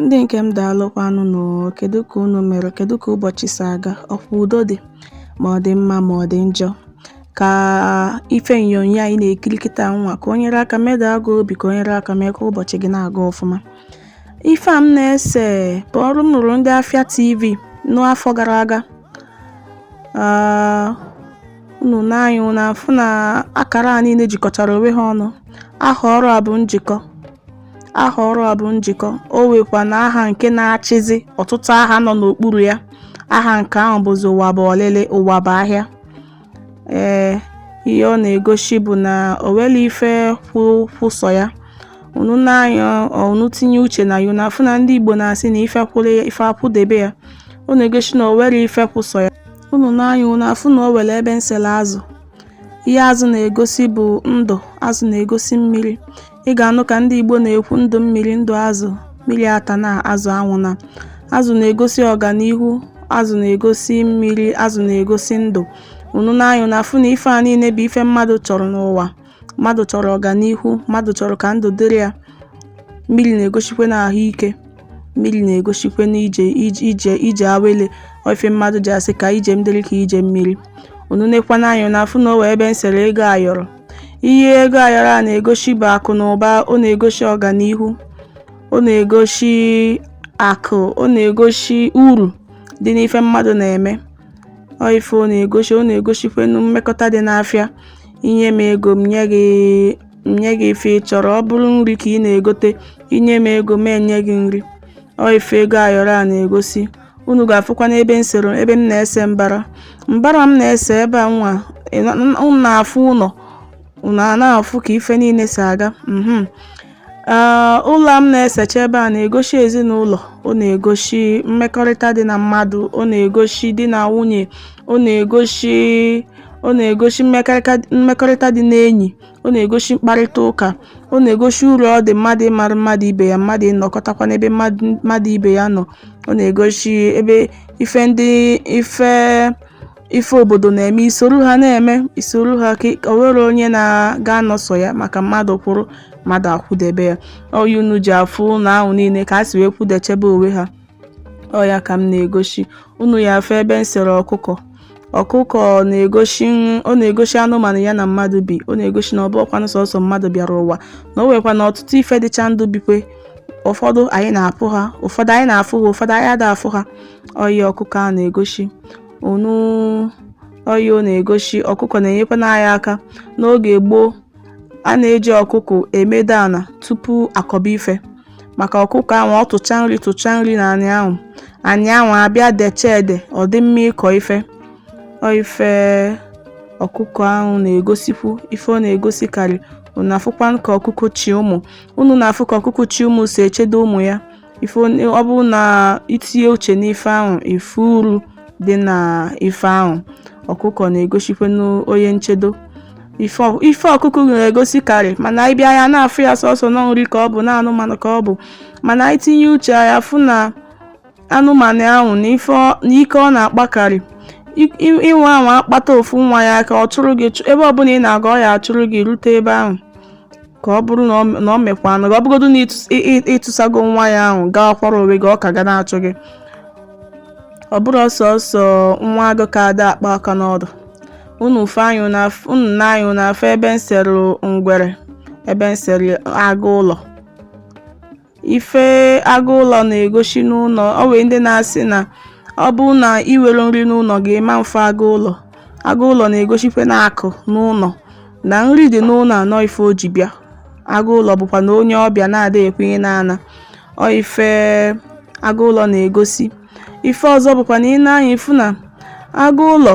Ndị nke m daalụkwanụ nụ o, kedụ ka unu mere, kedụ ka ụbọchị si aga, ọkwa udo dị, ma ọ dị mma ma ọ dị njọ. Ka ife onyonyo anyị na-ekiri kịta nwa ka o nyere aka medaa gị obi ka o nyere aka mee ka ụbọchị gị na-aga ọfụma. Ife a m na-ese bụ ọrụ m rụrụ ndị Afịa TV n'afọ gara aga. Ah, unu nee anya unu afụ na akara a niile jikọtara onwe ha ọnụ. Aha ọrụ a bụ njikọ. Aha ọrụ a bụ njikọ, o nwekwanụ aha nke na-achịzi ọtụtụ aha nọ n'okpuru ya. Aha nke ahụ bụzi ụwa bụ ọlịlị, ụwa bụ ahịa. Ee, ihe ọ na-egosi bụ na o nwerọ ife kwụ kwụ sọ ya. Unu nee anya unu tinye uche na ya, unu afụ na ndị Igbo na-asị na ife kwụrụ ya, ife akwụdebe ya. Ọ na-egosi na o nwerọ ife kwụ sọ ya. Unu nee anya unu afụ na o nwere ebe m sele azụ. Ihe azụ na-egosi bụ ndụ, azụ na-egosi mmiri. ị ga-anụ ka ndị Igbo na-ekwu ndụ mmiri ndụ azụ mmiri atana azụ anwụna azụ na-egosi ọganihu azụ na-egosi mmiri azụ na-egosi ndụ unu nee anya unu afụ na ife a niile bụ ife mmadụ chọrọ n'ụwa mmadụ chọrọ ọganihu mmadụ chọrọ ka ndụ dịrị ya mmiri na-egosikwenu ahụike mmiri na-egosikwenu ije ije ije awele ọ ife mmadụ ji asị ka ije m dịrị ka ije mmiri unu nekwanụ anya unu afụ na o nwe ebe m sere ego ayọrọ ihe ego ayọrọ a na-egosi bụ akụ na ụba ọ na-egosi ọganihu ọ na-egosi akụ ọ na-egosi uru dị n'ife mmadụ na-eme ọ ife ọ na-egosi ọ na-egosikwenu mmekọta dị n'afịa i nye m ego m nye gị m nye gị ife ị chọrọ ọ bụrụ nri ka ị na-egote i nye m ego m enye gị nri ọ ife ego ayọrọ a na-egosi unu ga-afụkwanụ ebe m sere ebe m na-ese mbara mbara m na-ese ebe a nwa ị na- n- unu na-afụ ụlọ unu a na-afụ ka ife niile si aga mhm. Ee, ụlọ a m na-esecha ebe a na-egosi ezinụlọ ọ na-egosi mmekọrịta dị na mmadụ ọ na-egosi di na nwunye ọ na-egosi ọ na-egosi mmekọrịta mmekọrịta dị n'enyi ọ na-egosi mkparịta ụka ọ na-egosi uru ọ dị mmadụ ịmara mmadụ ibe ya mmadụ ịnọkọtakwa n'ebe mmadụ mmadụ ibe ya nọ ọ na-egosi ebe ife ndị ife ife obodo na-eme isoro ha na-eme isoro ha ka o nwerọ onye na-aga anọ sọ ya maka mmadụ kwụrụ mmadụ akwụdebe ya ọ ya unu ji afụ ụnọ ahụ niile ka ha si wee kwụdechebe onwe ha ọ ya ka m na-egosi unu ya-afụ ebe m sere ọkụkọ ọkụkọ na-egosi ọ na-egosi anụmanụ ya na mmadụ bi ọ na-egosi na ọ bụkwanụ sọsọ mmadụ bịara ụwa na o nwekwanụ ọtụtụ ife dịcha ndụ bikwe ụfọdụ anyị na-apụ ha ụfọdụ anyị na-afụ ha ụfọdụ anyị ada afụ ha ọ ya ọkụkọ a na-egosi unu ọ ya ọ na-egosi ọkụkọ na-enyekwanụ anyị aka n'oge gboo A na-eji ọkụkụ emedo ana tupu akọba ife. Maka ọkụkọ ahụ, ọ tụcha nri tụcha nri na anị ahụ. Anị ahụ abịa decha ede, ọ dị mma ịkọ ife. Ọ ife ọkụkọ ahụ na-egosikwu ife ọ na-egosikarị. Unu afụkwa ka ọkụkọ chi ụmụ. Unu na-afụ ka ọkụkọ chị ụmụ si echedo ụmụ ya. ife ọ bụrụ na i tinye uche n'ife ahụ ife uru dị na ife ahụ ọkụkọ na-egosikwanụ onye nchedo ife ọkụkụ na-egosi karị mana anyị bịa ya na-afụ ya sọsọ na nri ka ọ bụ na anụmanụ ka ọ bụ mana i tinye uche ị ya-afụ na anụmanụ ahụ na ike ọ na-akpakarị inwe ahụ akpata ofu nwa ya ka ọ chụrụ gị ebe ọbụla ị na-aga ọ ya-achụrụ gị rute ebe ahụ ka ọ bụrụ na ọ- na ọ mekwanụ gị ọ bụgodu na ịtụs- ị- ị- ịtụsago nwa ya ahụ gakwara onwe gị ọ ka ga na-achụ gị ọ bụrọ sọsọ nwa agụ ka ada akpa aka n'ọdụ unu nee anya unu af- unu nee anya unu afụ ebe m sere ngwere ebe m sere agụ ụlọ ife agụ ụlọ na-egosi n'ụlọ o nwere ndị na-asị na ọ bụ na i nwerọ nri n'ụlọ gị ị ma afụ agụ ụlọ agụ ụlọ na-egosikwanụ akụ n'ụlọ na nri dị n'ụlọ na ọ ife o ji bịa agụ ụlọ bụkwanụ onye ọbịa na-ada ekwenye n'ana ọ ife agụ ụlọ na-egosi ife ọzọ bụkwa na i nee anya ị fụ na agụ ụlọ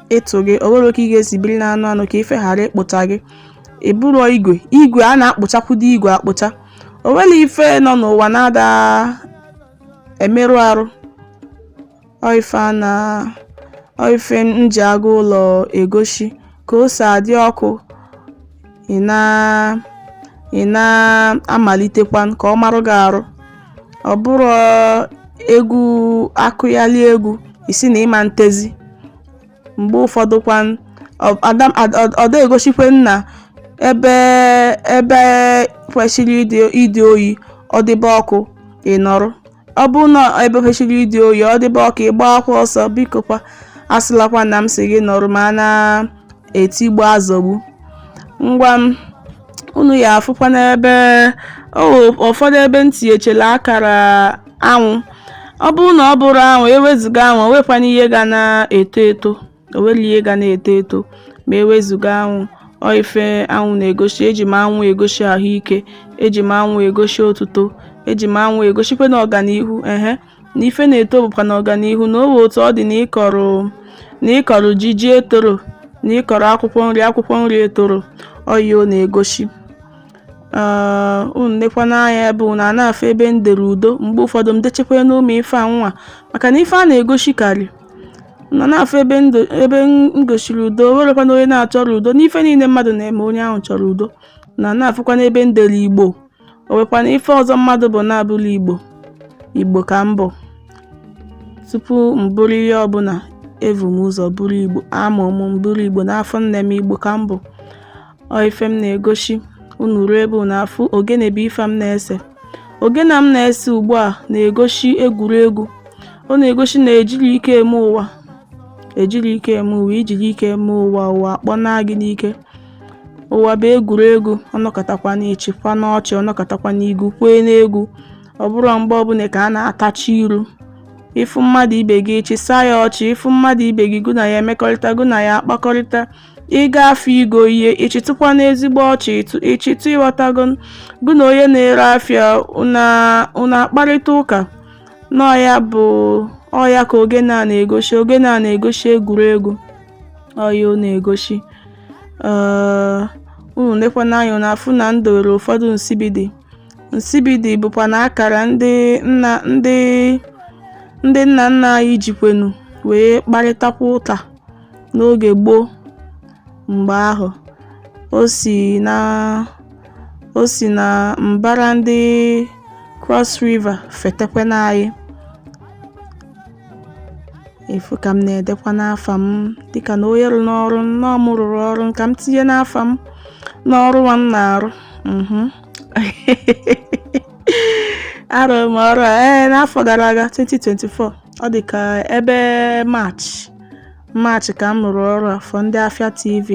ịtụ gị o nwerọ ka ị ga-esi biri na anụ anụ ka ife ghara ịkpụcha gị ị bụrụ igwe igwe a na-akpụchakwudo igwe akpụcha o nwerọ ife nọ n'ụwa na-ada emerụ arụ ọ ife a na ọ ife m ji agụ ụlọ egosi ka o si adị ọkụ ị na ị na-amalitekwa ka ọ marụ gị arụ ọ bụrọ egwu akụghali egwu ị sị na ị ma etezi mgbe ụfọdụ kwa ọ da egosikwa na ebe ebe kwesịrị ịdị oyi ọ dịbe ọkụ ị nọrọ Ọ bụrụ na ebe kwesịrị ịdị oyi ọ dịba ọkụ ị gbaakwa ọsọ biko kwa asịlakwa na m sị gị nọrọ ma a na-etigbu azọgbu ngwa unu ya-afụkwa n'ebe ụfọdụ ebe m tinyechela akara anwụ ọ bụrụ na ọ bụrọ anwụ e wezụga anwụ o nwekwanụ ihe ga na-eto eto O nwerọ ihe ga na-eto eto ma e wezụga anwụ. Ọ ife anwụ na-egosi. Eji m anwụ egosi ahụike. Eji m anwụ egosi otuto. Eji m anwụ egosikwanụ ọganihu. Ehe. Na ife na-eto bụkwanụ ọganihu na o nwee otu ọ dị na ị kọrọ na ị kọrọ ji ji etoro na ị kọrọ akwụkwọ nri akwụkwọ nri etoro ọ ihe ọ na-egosi. Ee, unu nekwanụ anya ebe unu na-afụ ebe m dere udo mgbe ụfọdụ m dechakwanụ ụmụ ife anwa maka na ife a na-egosikarị Na na-afụ ebe m gosiri udo, o nwerekwana onye na-achọrọ udo n'ife niile mmadụ na-eme onye ahụ chọrọ udo na na-afụkwana ebe m dere igbo o nwekwana ife ọzọ mmadụ bụ na-abụrọ igbo igbo ka m bụ tupu m bụrụ ihe ọbụla evu m ụzọ bụrụ igbo amụ m bụrụ igbo n'afọ nne m igbo ka m bụ Ọ ife m na-egosi unu ruo ebe unu afụ ogene bụ ife m na-ese ogene m na-ese ugbu a na-egosi egwuregwu ọ na-egosi na ejirọ ike eme ụwa ejirọ ike eme ụwa i jiri ike eme ụwa ụwa akpọna gị n'ike ụwa bụ egwuregwu ọ nọkatakwana ị chịkwana ọchị ọ nọkatakwana i gwukwene egwu ọ bụrọ mgbe ọbụla ka a na-atachi iru ị fụ mmadụ ibe gị ị chịsa ya ọchị ị fụ mmadụ ibe gị gụ na ya emekọrịta gụ na ya akpakọrịta ị ga afịa igo ihe ị chịtụkwana ezigbo ọchị ị chịtụ ị ghọtago gụ na onye na-ere afịa unu akparịta ụka na ọ ya bụ ọ ya ka ogene a na-egosi ogene a na-egosi egwuregwu ọ ya ọ na-egosi unu lekwana anya na-afụ na m dowere ụfọdụ nsibidi nsibidi bụkwana akara ndị nna ndị ndị nna nna anyị jikwenu wee kparịtakwa ụka n'oge gboo mgbe ahụ o si na o si na mbara ndị Cross River fetekwa n'anyị ị fụ ka m na-edekwana afa m dịka na onye rụrụnụ ọrụ na ọ mụ rụrụ ọrụ ka m tinyenụ afa m n'ọrụ nwa m na-arụ mhm. arụrụ m ọrụ a ee n'afọ gara aga 2024 ọ dị ka ebe March March ka m rụrụ ọrụ a for ndị Afia TV.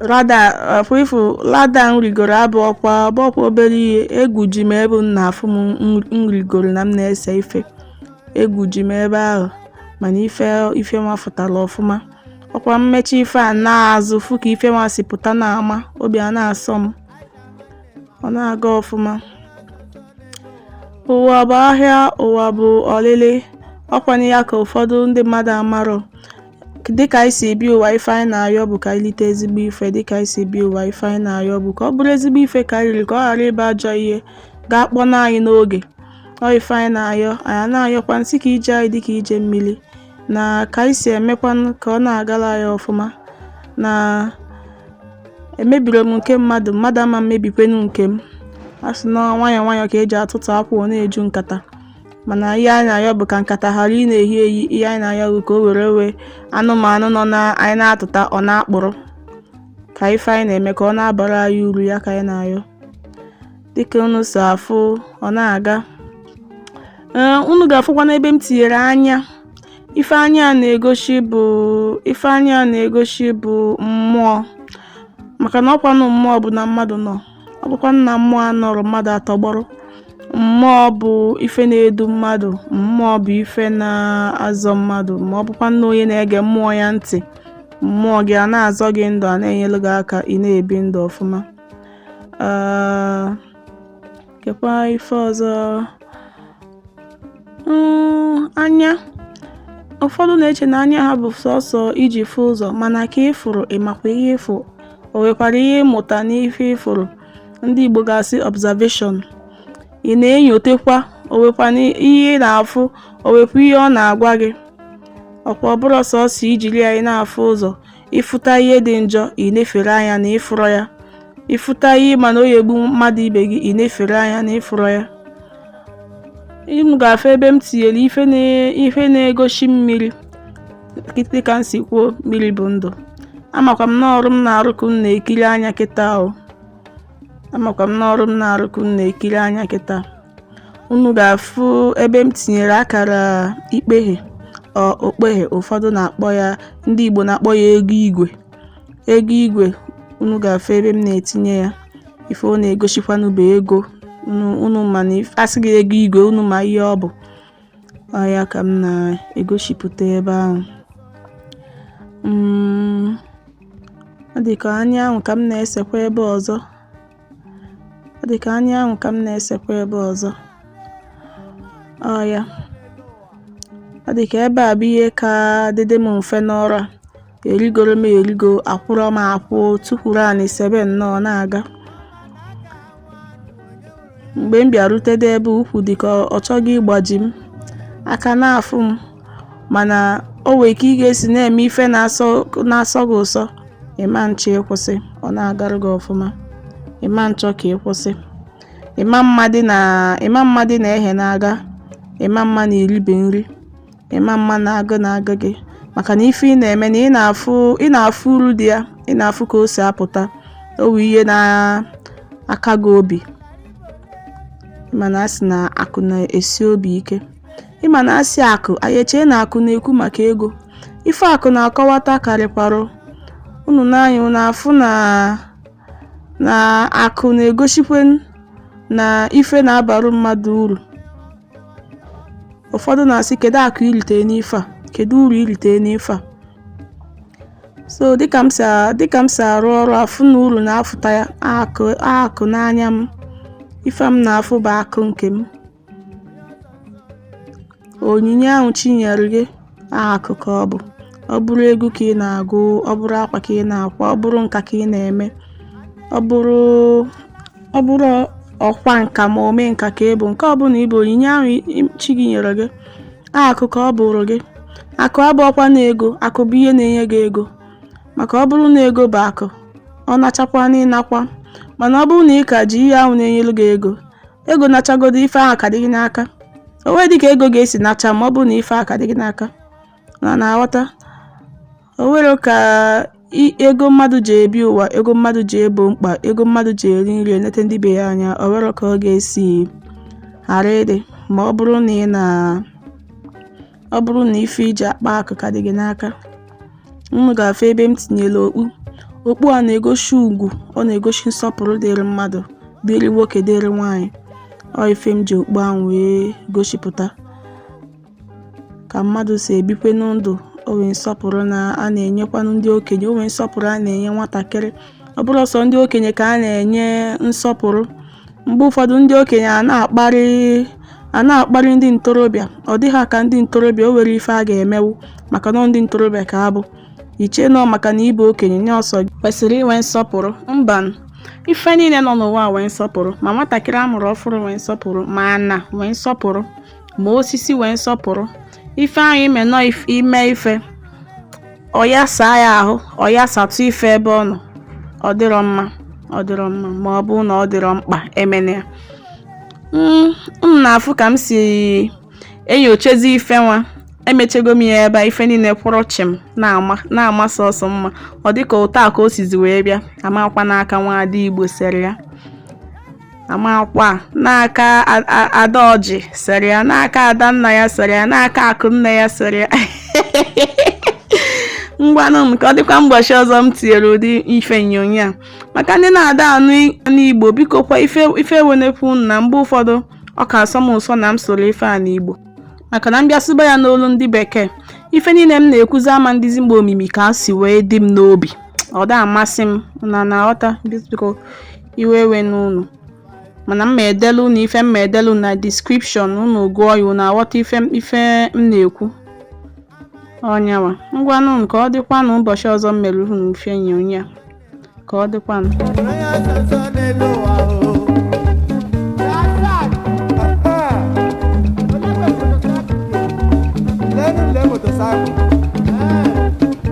Ladder afụ ị fụ ladder m rigoro abụrọkwa ọ bụrọkwa obere ihe egwu ji m ebe m na-afụ m m- m rigoro na m na-ese ife egwu ji m ebe ahụ mana ife ife nwa fụtara ọfụma ọkwa m mechaa ife a naa azụ fụ ka ife nwa si pụta na-ama obi a na-asọ m ọ na-aga ọfụma ụwa bụ ahịa ụwa bụ olili ọkwanụ ya ka ụfọdụ ndị mmadụ amarọ dịka anyị si ebi ụwa ife anyị na-ayọ bụ ka anyị lite ezigbo ife dịka anyị si ebi ụwa ife anyị na-ayọ bụ ka ọ bụrụ ezigbo ife ka anyị riri ka ọ ghara ịbụ ajọ ihe ga-akpọna anyị n'oge ọ ife anyị na-ayọ anyị na-ayọkwanụ sị ka ije anyị dị ka ije mmiri na ka anyị si emekwanụ ka ọ na-agala anyị ọfụma na emebirọ m nke mmadụ mmadụ ama emebikwenu nke m a sị na nwayọọ nwayọọ ka eji atụtụ akwụ ọ na-eju nkata mana ihe anyị na-ayọ bụ ka nkata ghara ịna-ehi ehi ihe anyị na-ayọ bụ ka ọ ghara inwe anụmanụ nọ na anyị na-atụta ọ na-akpụrụ ka ife anyị na-eme ka ọ na-abara anyị uru ya ka anyị na-ayọ dịka unu si afụ ọ na-aga ee unu ga-afụkwa n'ebe m tinyere anya ife anya a na-egosi bụ ife anya a na-egosi bụ mmụọ maka na ọkwanụ mmụọ bụ na mmadụ nọ ọ bụkwa na mmụọ anọrọ mmadụ atọgbọrọ mmụọ bụ ife na-edu mmadụ mmụọ bụ ife na-azọ mmadụ ma ọ bụkwa na onye na-ege mmụọ ya ntị mmụọ gị a na-azọ gị ndụ a na-enyelu gị aka ị na-ebi ndụ ọfụma Ah, kekwa ife ọzọ mm, anya ụfọdụ na-eche na anya ha bụ sọsọ iji fụ ụzọ mana ke ị fụrụ ị makwa ihe ị fụ o nwekwara ihe ị mụta n'ife ị fụrụ ndị Igbo ga-asị observation ị na-enyotekwa o wekwana ihe ị na-afụ o wekwa ihe ọ na-agwa gị ọkwa ọ bụrọ sọsọ ijiri ya na-afụ ụzọ ị fụta ihe dị njọ i nefere anya na ị fụrọ ya ị fụta ihe ị ma na ọ ya-egbu mmadụ ibe gị i nefere anya na ị fụrọ ya unu ga-afụ ebe m tinyere ife na-egosi mmiri dịka m si kwuo mmiri bụ ndụ amakwa m na ọrụ m na-arụ ka unu na-ekiri anya kịta ahụ amakwa m na ọrụ m na-arụ ka unu na-ekiri anya kịta unu ga-afụ ebe m tinyere akara ikpeghe ọ- okpeghe ụfọdụ na-akpọ ya ndị Igbo na-akpọ ya ego igwe ego igwe unu ga-afụ ebe m na-etinye ya ife ọ na-egosikwanụ bụ ego unu unu ma na if- a sị gị ego igwe unu ma ihe ọ bụ ọ ya ka m na-egosipụta ebe ahụ mm, ọ dị ka anya ahụ ka m na-esekwa ebe ọzọ ọ dị ka anya ahụ ka m na-esekwa ebe ọzọ ọ ya ọ dị ka ebe a bụ ihe ka dịdị m mfe n'ọrụ a erigoro m erigo akwụrụ m akwụ tukwuru anị sebe nnọọ na-aga mgbe m bịarutede ebe ukwu dị ka ọ chọga ịgbaji m aka na-afụ m mana o nwere ka ị ga-esi na-eme ife na-asọ na-asọ gị ụsọ ị ma nchọ ịkwụsị ọ na-agara gị ọfụma ị ma nchọ ka ị kwụsị ị ma mmadị na ị ma mmadị na ihe na-aga ị ma mma na i ribe nri Ị ma mma na agụụ na-agụ gị maka na ife ị na-eme na ị na-afụ ị na-afụ uru dị ya ị na-afụ ka o si apụta o wee ihe na-aka gị obi ị ma na a sị na akụ na-esi obi ike ị ma na a sị akụ anyị echee na akụ na-ekwu maka ego ife akụ na-akọwata karịkwarụ unu nee anya unu afụ na na akụ na-egosikwa na ife na-abaru mmadụ uru ụfọdụ na-asị kedu akụ i rite n'ife a kedu uru i rite n'ife a so dịka m si a- dịka m si arụ ọrụ afụ na uru na-afụta ya akụ akụ n'anya m ife m na-afụ bụ akụ nke m onyinye ahụ chi nyere gị Akụ ka ọ bụ. Ọ bụrụ egwu ka ị na-agụ, ọ bụrụ akwa ka ị na-akwa, ọ bụrụ nka ka ị na-eme, ọ bụrụ ọ bụrụ ọkwa nka ma ome nka ka ị bụ, nke ọbụla ị bụ onyinye ahụ i- chi gị nyere gị, akụ ka ọ bụụrụ gị. Akụ abụọkwa na ego, akụ bụ ihe na-enye gị ego. Maka ọ bụrụ na ego bụ akụ, ọ nachakwa n'ị nakwa. Mana ọ bụrụ na ị ka ji ihe ahụ na-enyere gị ego, ego nachagodo ife ahụ ka dị gị n'aka o nwee dịka ego ga-esi nacha ma ọ bụrụ na ife ahụ ka dị gị n'aka na na-aghọta o nwere ka ego mmadụ ji ebi ụwa ego mmadụ ji ebo mkpa ego mmadụ ji eri nri enete ndị be ya anya o nwere ka ọ ga-esi ghara ịdị ma ọ bụrụ na ị na Ọ bụrụ na ife iji akpa akụ ka dị gị n'aka, unu ga-afụ ebe m tinyere okpu. Okpu a na-egosi ugwu, ọ na-egosi nsọpụrụ dịrị mmadụ, dịrị nwoke, dịrị nwaanyị. Ọ ife m ji okpu ahụ wee gosipụta ka mmadụ si ebikwe ndụ o nwee nsọpụrụ a na-enyekwanụ ndị okenye o nwee nsọpụrụ a na-enye nwatakịrị ọ bụrọ sọ ndị okenye ka a na-enye nsọpụrụ Mgbe ụfọdụ ndị okenye a na-akparị a na-akparị ndị ntorobịa ọ dị ha ka ndị ntorobịa o nwere ife a ga-emewu maka na ọ ndị ntorobịa ka a bụ i che n'ọ maka na ị bụ okenye ọ sọ kwesịrị inwe nsọpụrụ mba ife niile nọ n'ụwa nwee nsọpụrụ ma nwatakịrị a mụrụ ọfụrụ nwee nsọpụrụ ma ana nwee nsọpụrụ ma osisi nwee nsọpụrụ ife ahụ ime nọ ime ife ọya saa ya ahụ ọya satụ ife ebe ọ nọ ọ dịrọ mma ọ dịrọ mma ma ọ bụ na ọ dịrọ mkpa emene ya hmm, m na-afụ ka m si enyochazi ife nwa emechego m ya ebe ife niile kwụrụ chịm na-ama sọsọ mma ọ dịka ọ taa ka o sizi wee bịa a makwa n'aka nwa ada igbo sere ya a makwa n'aka ada oji sere ya n'aka ada nna ya sere ya n'aka akụ nne ya sere ya ngwanụ m ka ọ dịkwa mbọchị ọzọ m tinyere ụdị ife onyonyo a maka ndị na-ada anụ igbo biko kwa iwe ewenekwa unu na mgbe ụfọdụ ọ ka asọ m ụsọ na m sụrụ ife a n'igbo maka na m bịa sụba ya n'olu ndị bekee ife niile m na-ekwuzi ama adị ezigbo omimi ka o si wee dị m n'obi ọ da amasị m na na-aghọta biko iwe ewena unu mana m ma edelu unu ife m ma edelu na description unu gụọ ya unu aghọta ife m na-ekwu ọ nya nwa ngwanụ unu ka ọ dịkwanụ ụbọchị ọzọ m mere unu ife onyonyo ka ọ dịkwanụ.